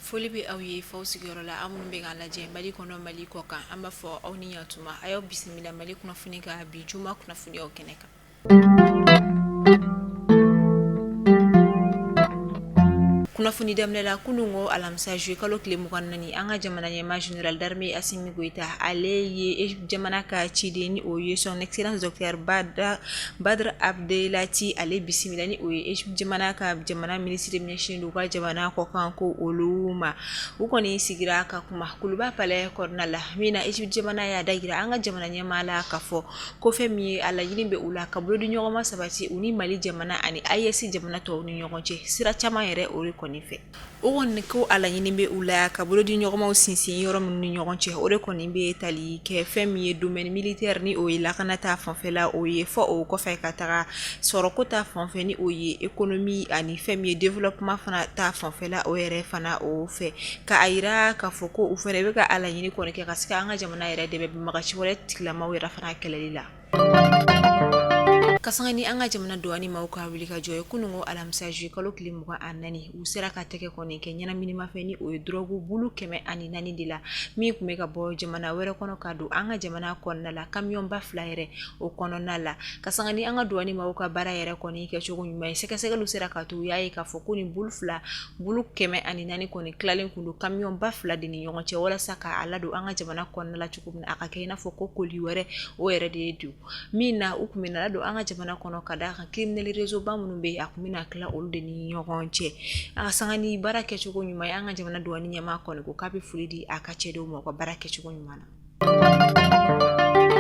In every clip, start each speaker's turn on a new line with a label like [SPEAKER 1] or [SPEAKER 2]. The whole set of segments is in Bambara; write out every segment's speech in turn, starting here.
[SPEAKER 1] foli bɛ aw ye f'aw sigiyɔrɔ la aw minnu bɛ k'an lajɛ mali kɔnɔ mali kɔ kan an b'a fɔ aw ni yantuma a y'aw bisimila mali kunnafoni ka bi juma kunnafoniyaw kɛnɛ kan kunnafoni daminɛ la kunun ko alamisa juillet kalo tile mugan ni naani an ka jamana ɲɛmaa général d'armée Assimi Goïta ale ye Égypte jamana ka ciden ni o ye son excellence docteur Badr Abdelatty ale bisimila ni o ye Égypte jamana ka jamana minisiri min ɲɛsinnen don u ka jamana kɔ kan ko olu ma u kɔni sigira ka kuma Kuluba palais kɔnɔna la min na Égypte jamana y'a da jira an ka jamana ɲɛmaa la k'a fɔ ko fɛn min ye a laɲini bɛ u la ka bolodiɲɔgɔnma sabati u ni mali jamana ani AES jamana tɔw ni ɲɔgɔn cɛ sira caman yɛrɛ o de kɔni fɛ o kɔni ko a laɲini bɛ u la ka bolodiɲɔgɔnmaw sinsin yɔrɔ minnu ni ɲɔgɔn cɛ o de kɔni bɛ tali kɛ fɛn min ye domaine militaire ni o ye lakana ta fanfɛla o ye fɔ o kɔfɛ ka taga sɔrɔko ta fanfɛ ni o ye économie ani fɛn min ye développement fana ta fanfɛla o yɛrɛ fana o fɛ K'a jira k'a fɔ ko u fana bɛ ka a laɲini kɔni kɛ ka se ka an ka jamana yɛrɛ dɛmɛ banbaganci wale tigilamaw yɛrɛ fana kɛlɛli la ka sanga ni an ka jamana duwani maaw ka wulikajɔ ye kunun ko alamisa juillet kalo tile mugan ani naani u sera ka tɛgɛ kɔni kɛ ɲɛnaminimafɛn ni o ye dɔrɔgu bulu kɛmɛ ani naani de la min tun bɛ ka bɔ jamana wɛrɛ kɔnɔ ka don an ka jamana kɔnɔna la kamiyɔnba fila yɛrɛ o kɔnɔna la ka sanga ni an ka duwani maaw ka baara yɛrɛ kɔni kɛcogo ɲuman ye sɛgɛsɛgɛli sera k'a to u y'a ye k'a fɔ ko nin bulu fila bulu kɛmɛ ani naani kɔni tilalen tun don kamiyɔnba fila de ni ɲɔgɔn cɛ walasa k'a ladon an ka jamana kɔnɔna la cogo min a ka kɛ i n'a fɔ ko koli wɛrɛ o yɛrɛ de ye don min na u tun bɛ n'a ladon an ka jamana kɔnɔ ka d'a kan criminel réseau ba minnu bɛ a tun bɛna tila olu de ni ɲɔgɔn cɛ a sanga ni baara kɛcogo ɲuman ye an ka jamana duwani ɲɛmaa kɔni ko k'a bɛ foli di a ka cɛdenw ma u ka baara kɛcogo ɲuman na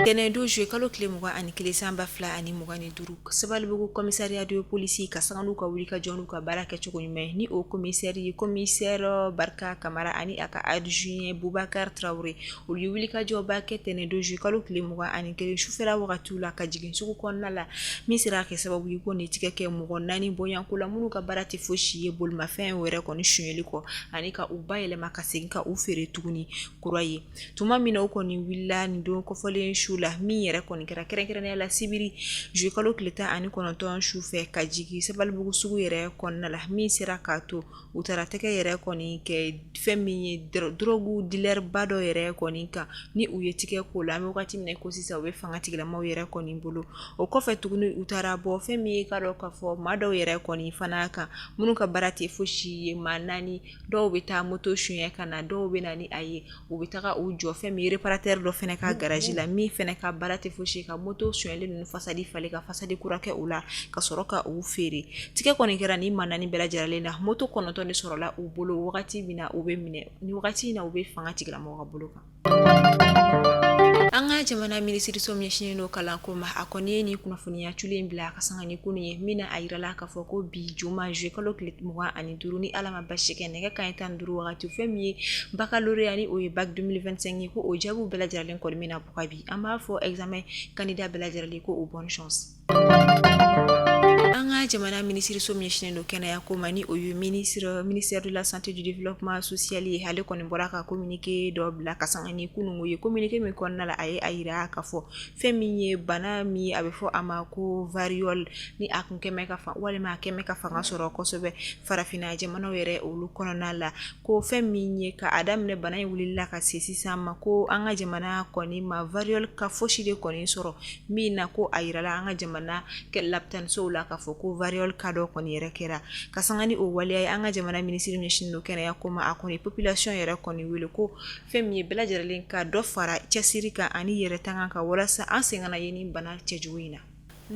[SPEAKER 1] Tɛnɛn don juillet kalo tile mugan ani kelen san ba fila ani mugan ni duuru Sabalibugu commissariat de police ka sanga n'u ka wulikajɔ n'u ka baara kɛcogo ɲuman ye ni o komisɛri ye komisɛri Barika Kamara ani a ka adjoint Bubakari Tarawele olu ye wulikajɔba kɛ tɛnɛn don juillet kalo tile mugan ani kelen sufɛla wagatiw la ka jigin sugu kɔnɔna la min sera a kɛ sababu ye ko ni tɛgɛ kɛ mɔgɔ naani bɔɲɔgɔnko la minnu ka baara tɛ fosi ye bolimafɛn wɛrɛ kɔni sonyali kɔ ani ka u bayɛlɛma ka segin ka u feere tuguni kura ye tuma min na u kɔni wulila nin don kɔfɔlen su la min yɛrɛ kɔni kɛra kɛrɛnkɛrɛnnenya la sibiri juillet kalo tile tan ani kɔnɔntɔn su fɛ ka jigin Sabalibugu sugu yɛrɛ kɔnɔna la min sera k'a to u taara tɛgɛ yɛrɛ kɔni kɛ fɛn min ye dɔrɔgu dealer ba dɔ yɛrɛ kɔni kan ni u ye tɛgɛ k'o la an bɛ wagati min ko sisan u bɛ fanga tigilamaw yɛrɛ kɔni bolo o kɔfɛ tuguni u taara bɔ fɛn min ye k'a dɔn k'a fɔ maa dɔw yɛrɛ kɔni fana kan minnu ka baara tɛ fosi ye ma naani dɔw bɛ taa moto sonɲɛ ka na dɔw bɛ na ni a ye u bɛ taga u jɔ fɛn min reparatɛri dɔ fɛnɛ ka garaji la min fɛnɛ ka baara tɛ fosi ka moto sonyalen ninnu fasadi falen ka fasadi kura kɛ u la ka sɔrɔ ka u feere tigɛ kɔni kɛra ni maa naani bɛɛ lajɛrɛlen na moto kɔnɔntɔn de sɔrɔla u bolo wagati min na u bɛ minɛ ni wagati in na u bɛ fanga tigilamɔgɔw ka bolo kan An ka jamana minisiriso min ɲɛsinnen don kalanko ma a kɔni ye nin kunnafoniya cunnen bila ka sanga ni kunun ye min na a jirala k'a fɔ ko bi juma zuyekalo tile mugan ani duuru ni ala ma basi kɛ nɛgɛ kanɲɛ tan duuru wagati fɛn min ye bakaloreya ni o ye bac deux mille vingt-cinq ye ko o jaabiw bɛɛ lajɛrɛlen kɔni bɛna bɔ bi an b'a fɔ examen candidat bɛɛ lajɛrɛlen ko o bonne chance An ka jamana minisiriso min ɲɛsinnen don kɛnɛya ko ma ni o ye minisiri ministère de la santé du développement social ye ale kɔni bɔra ka kominike dɔ bila ka sanga ni kununko ye kominike min kɔnɔna la a ye a jira ka fɔ fɛn min ye bana min a bɛ fɔ a ma ko variole ni a kun kɛmɛ ka walima a kɛmɛ ka fanga sɔrɔ kosɛbɛ farafinna jamanaw yɛrɛ olu kɔnɔna la Ko fɛn min ye ka a daminɛ bana in wulila ka se sisan ma ko an ka jamana kɔni ma variole ka fosi de kɔni sɔrɔ min na ko a jirala an ka jamana lapitanisow la ka fɔ ko variole ka dɔ kɔni yɛrɛ kɛra ka sanga ni o waleya ye an ka jamana minisiri ɲɛsinnen don kɛnɛya ko ma a kɔni population yɛrɛ kɔni wele ko fɛn min ye bɛɛ lajɛrɛlen ka dɔ fara cɛsiri kan ani yɛrɛtanga kan walasa an sen kana ye ni bana cɛjugu in na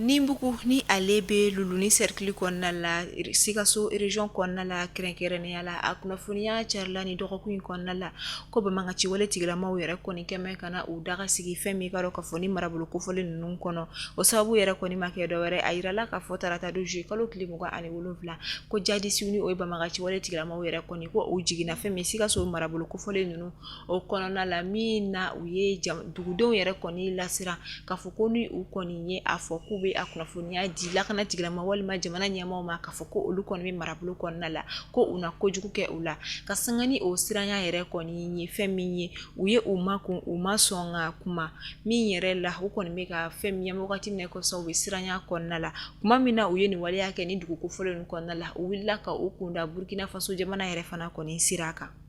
[SPEAKER 1] Ninbugu ni ale bɛ luluni sɛrikili kɔnɔna la sikaso région kɔnɔna la kɛrɛnkɛrɛnnenya la a kunnafoniya carila ni dɔgɔkun in kɔnɔna la ko banbagaciwale tigilamaw yɛrɛ kɔni kɛmɛ ka na u daga sigi fɛn min ka dɔn ka fɔ ni marabolo kofɔlen ninnu kɔnɔ o sababu yɛrɛ kɔni ma kɛ dɔwɛrɛ a jirala ka fɔ tarata don zuyekalo tile mugan ani wolowula ko jadisiw ni o ye banbagaciwale tigilamaw yɛrɛ kɔni ko u jiginna fɛn min sikaso marabolo kofɔlen ninnu o kɔnɔna la min na u ye dugudenw yɛrɛ kɔni lasira ka fɔ ko ni u kɔni ye a fɔ k'u bɛ a kunnafoniya di lakana tigilama walima jamana ɲɛmaaw ma ka fɔ ko olu kɔni bɛ marabolo kɔnɔna la ko u na kojugu kɛ u la ka sanga ni o siranya yɛrɛ kɔni ye fɛn min ye u ye u ma kun u ma sɔn ka kuma min yɛrɛ la u kɔni bɛ ka fɛn min ye wagati min kɔsɔn u bɛ siranya kɔnɔna la tuma min na u ye nin waleya kɛ ni dugu kofɔlen kɔnɔna la u wulila ka u kunda burukinafaso jamana yɛrɛ fana kɔni sira kan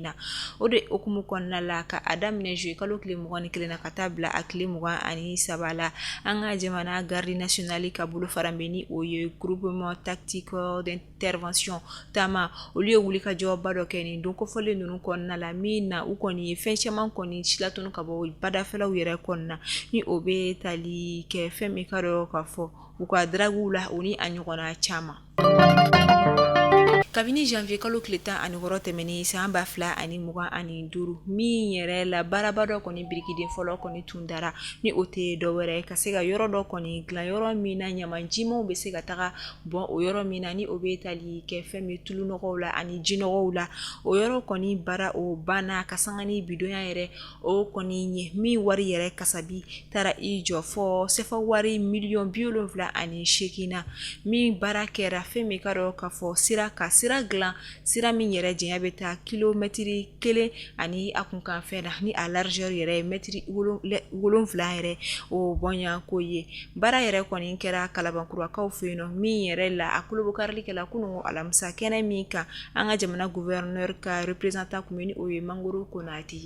[SPEAKER 1] na o de hukumu kɔnɔna la ka a daminɛ zuyekalo tile mugan ni kelen na ka taa bila a tile mugan ani saba la an ka jamana gardi nasionali ka bolo fara bɛ ni o ye groupement tactique d'intervention taama olu ye wulikajɔba dɔ kɛ nin don kofɔlen ninnu kɔnɔna la min na u kɔni ye fɛn caman kɔni silatunu ka bɔ badafɛlaw yɛrɛ kɔnɔna ni o bɛ tali kɛ fɛn min ka dɔn ka fɔ u ka daraguw la o ni a ɲɔgɔnna caman Kabini janvier kalo tile 16 tɛmɛnen san 2025 min yɛrɛ la baaraba dɔ kɔni birikiden fɔlɔ kɔni tun dara ni o tɛ dɔ wɛrɛ ye ka se ka yɔrɔ dɔ kɔni dilan yɔrɔ min na ɲaman jimanw bɛ se ka taga bɔn o yɔrɔ min na ni o bɛ tali kɛ fɛn min ye tulu nɔgɔw la ani ji nɔgɔw la o yɔrɔ kɔni baara o banna ka sanga ni bi donya yɛrɛ O kɔni ye min wari yɛrɛ kasabi taara i jɔ fɔ sefa wari miliyɔn bi wolonwula ani segin na min baara kɛra fɛn min ka dɔn ka fɔ sira ka sira dilan sira min yɛrɛ janya bɛ taa kilomɛtiri kelen ani a kunkanfɛn na ni a largeur yɛrɛ ye mɛtiri wolonwula yɛrɛ o bɔɲɔgɔnko ye baara yɛrɛ kɔni kɛra kalabankurakaw fɛ yen min yɛrɛ la a kurunbonkarili kɛla kunun alamisa kɛnɛ min kan an ka jamana gouverneur ka représentant tun bɛ ni o ye Mangoro Konate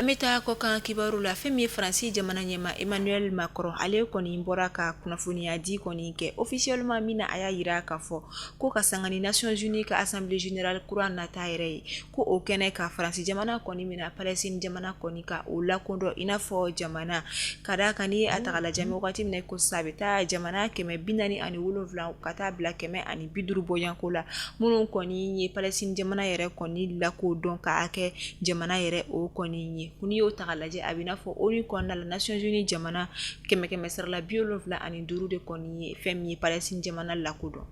[SPEAKER 1] An bɛ taa kɔkan kibaru la fɛn min ye faransi jamana ɲɛma Emmanuel Macron ale kɔni bɔra ka kunnafoniya di kɔni kɛ officiellement min na a y'a yira k'a fɔ ko ka sanga ni Nations Unies ka Assemblée Générale kura nata yɛrɛ ye ko o kɛnɛ kan faransi jamana kɔni bɛna Palestine jamana kɔni ka o lakodɔn i n'a fɔ jamana ka d'a kan ni a taga lajɛ wagati min na ko sa a bɛ taa jamana kɛmɛ bi naani ani wolonwula ka taa bila kɛmɛ ani bi duuru bɔɲɔgɔnko la minnu kɔni ye Palestine jamana yɛrɛ kɔni lakodɔn k'a kɛ jamana yɛrɛ o kɔni ye ko n'i y'o taga lajɛ a bɛ n'a fɔ ONU kɔnɔna la Nations Unies jamana kɛmɛ kɛmɛ sarala bi wolonwula ani duuru de kɔni ye fɛn min ye Palestine jamana lakodɔn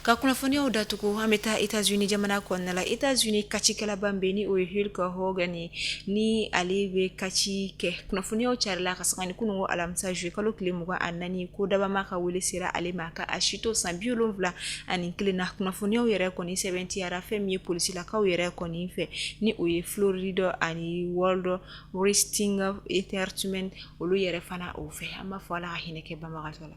[SPEAKER 1] ka kunnafoniyaw datugu an bɛ taa États-Unis jamana kɔnɔna la États-Unis kacikɛlaba bɛ ni o ye Hulk Hogan ni ale bɛ kaci kɛ kunnafoniyaw carila ka sanga ni kunun alamisa juillet kalo tile mugan ani naani ko dabama ka wele sera ale ma ka a si to san bi wolonwula ani kelen na kunnafoniyaw yɛrɛ kɔni sɛbɛntiyara fɛn min ye polisilakaw yɛrɛ kɔni fɛ ni o ye Florida ani World Wrestling Entertainment olu yɛrɛ fana o fɛ an b'a fɔ ala ka hinɛ kɛ banbagatɔ la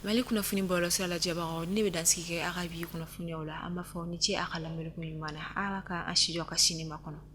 [SPEAKER 1] mali kunnafoni bɔlɔ sira lajɛbagaw ne bɛ dansigi kɛ aw ka bi kunnafoniw la an b'a fɔ ni ce a ka lamɛnni ko ɲuman na ala ka an si jɔ ka sini makɔnɔ